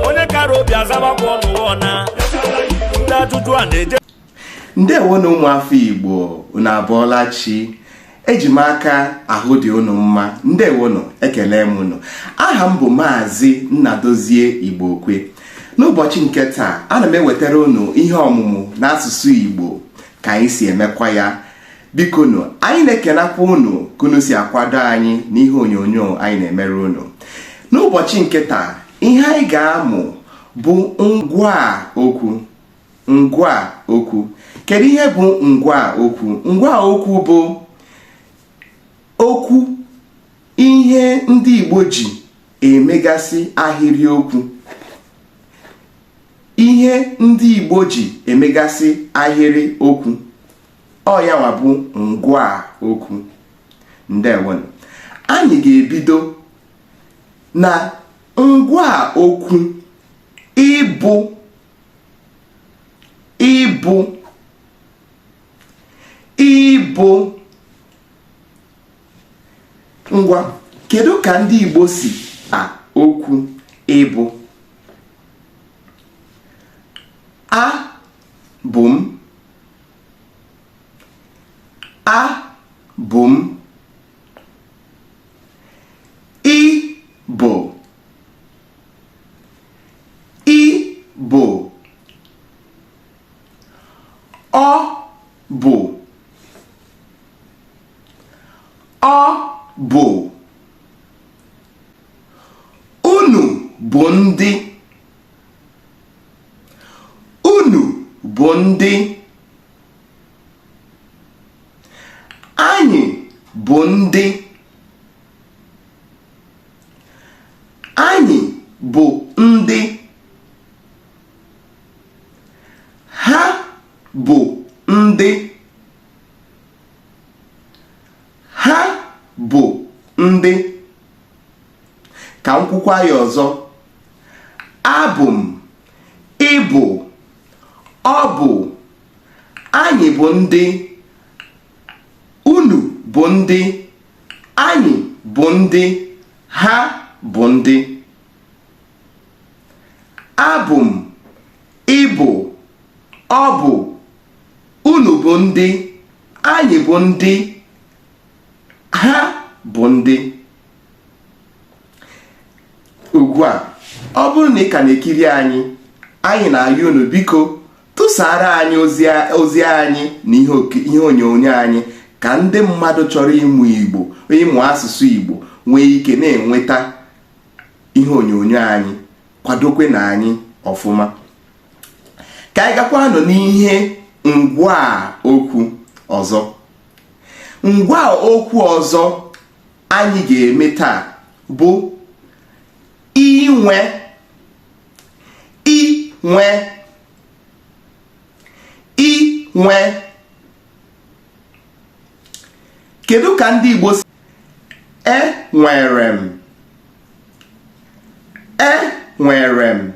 onye kara obi azabakwa ọnụwa na ndị ajụjụ a na-eje ndewonụ ụmụafọ igbo unu abọọla chi eji m aka ahụ dị unu mma ndewonụ ekelee m unu aha m bụ maazị nnadozie igbokwe n'ụbọchị nke taa ana m ewetara unu ihe ọmụmụ n'asụsụ igbo ka anyị si emekwa ya bikonụ anyị na-ekelekwa unu ka unu si akwado anyị n'ihe onyonyo anyị na-emere unu n'ụbọchị nke taa ihe anyị ga-amụ bụ ngwaa okwu ngwaa okwu kedu ihe bụ ngwaa okwu ngwaa okwu bụ okwu ihe ndị Igbo ji emegasị ahịrịokwu ihe ndị Igbo ji emegasị ahịrịokwu ọ ya nwa bụ ngwaa okwu ndewonụ anyị ga-ebido na ngwaa okwu ịbụ ịbụ ịbụ ngwa kedu ka ndị Igbo si a okwu ịbụ a bụ m abụ m ị bụ ị bụ ọ bụ ọ bụ unu bụ ndị unu bụ ndị anyị bụ ndị anyị bụ ndị ha bụ ndị ha bụ ndị ka m kwukwaa ya ọzọ abụ m ị bụ ọ bụ anyị bụ ndị unu bụ ndị anyị bụ ndị ha bụ ndị abụ m ị bụ ọ bụ unu bụ ndị anyị bụ ndị ha bụ ndị ugbu a ọ bụrụ na ị ka na-ekiri anyị anyị na-ayọ unu biko tụsara anyị ozi anyị na ihe onyonyo anyị ka ndị mmadụ chọrọ ịmụ igbo ịmụ asụsụ igbo nwee ike na-enweta ihe onyonyo anyị kwadokwenụ anyị ọfụma ka anyị gakwanụ n'ihe ngwa okwu ọzọ ngwa okwu ọzọ anyị ga-eme taa bụ inwe inwe inwe kedu ka ndị Igbo si enwere m e nwere m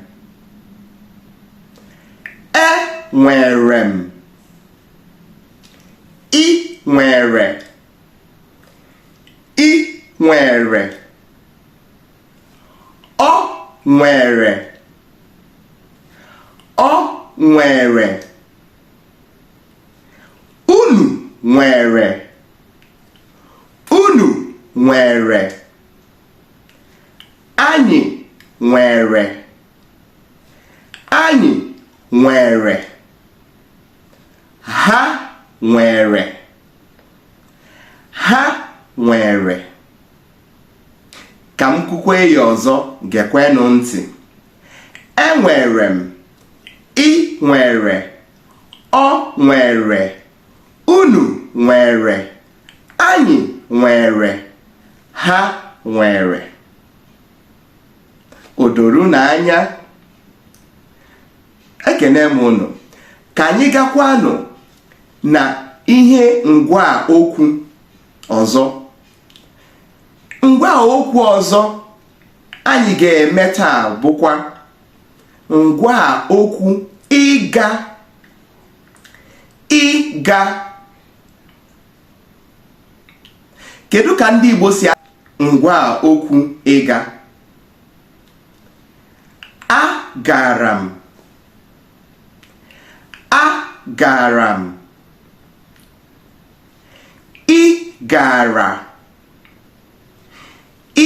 e nwere m i nwere i nwere o nwere o nwere unu nwere unu nwere anyị nwere anyị nwere ha nwere ha nwere ka m kwukwe ya ọzọ gekwenụ ntị enwere m i nwere o nwere unu nwere anyị nwere ha nwere o doro unu anya ekene m unu ka anyị gakwanụ na ihe ngwa okwu ọzọ ngwa okwu ọzọ anyị ga-eme taa bụkwa ngwa okwu ịga ịga kedu ka ndị Igbo si ngwa okwu ịga agara m agara m ị gara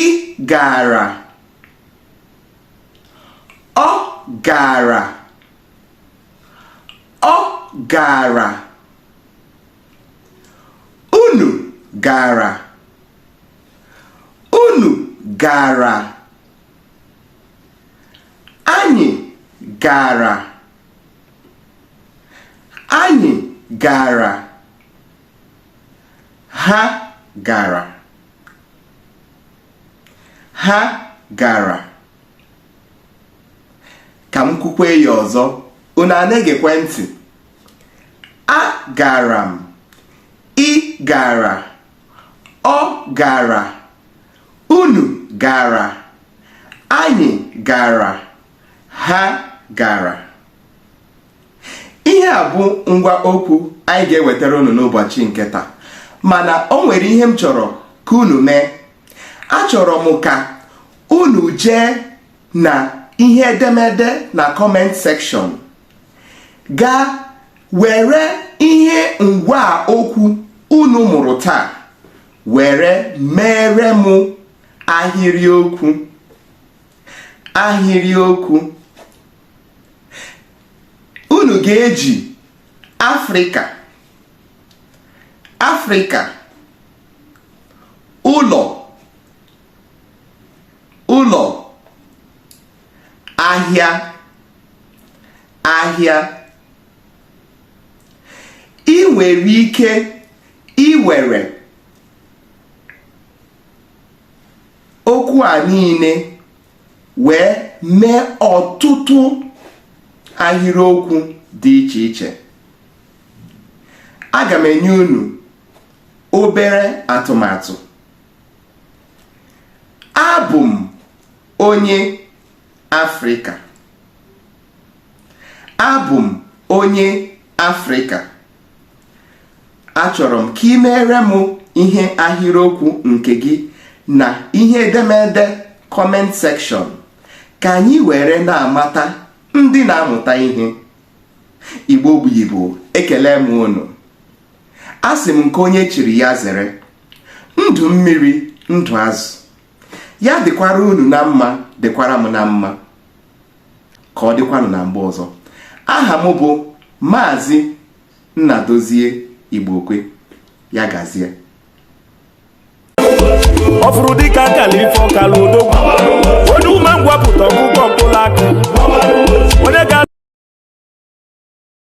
ị gara ọ gara ọ gara unu gara unu gara anyị gara anyị gara ha gara ha gara ka m kwukwe ya ọzọ unu ana-egekwe ntị a gara m ị gara ọ gara unu gara anyị gara ha gara ihe a bụ ngwaa okwu anyị ga-ewetara unu n'ụbọchị nke taa mana o nwere ihe m chọrọ ka unu mee achọrọ m ka unu jee na ihe edemede na comment section gaa were ihe ngwaa okwu unu mụrụ taa were meere m ahịrịokwu ahịrịokwu unu ga-eji afrịka afrịka ụlọ ụlọ ahịa ahịa ị nwere ike iwere okwu a niile wee mee ọtụtụ ahịrịokwu dị iche iche aga m enye unu obere atụmatụ abụ m onye afrịka abụ m onye afrịka achọrọ m ka ị meere m ihe ahịrịokwu nke gị na ihe edemede comment section ka anyị were na-amata ndị na-amụta ihe igbo bụ igbo ekele m unu asị m nke onye chiri ya zere ndụ mmiri ndụ azụ ya dịkwara unu na mma dịkwara m na mma ka ọ dịkwanụ na mgbe ọzọ aha m bụ maazị Nnadozie Igbokwe ya gazie ọ fụrụ dịka akala ife ọkala odogwu onye ume ngwapụta ọgwụgwọ mkpụrụ aka onye ga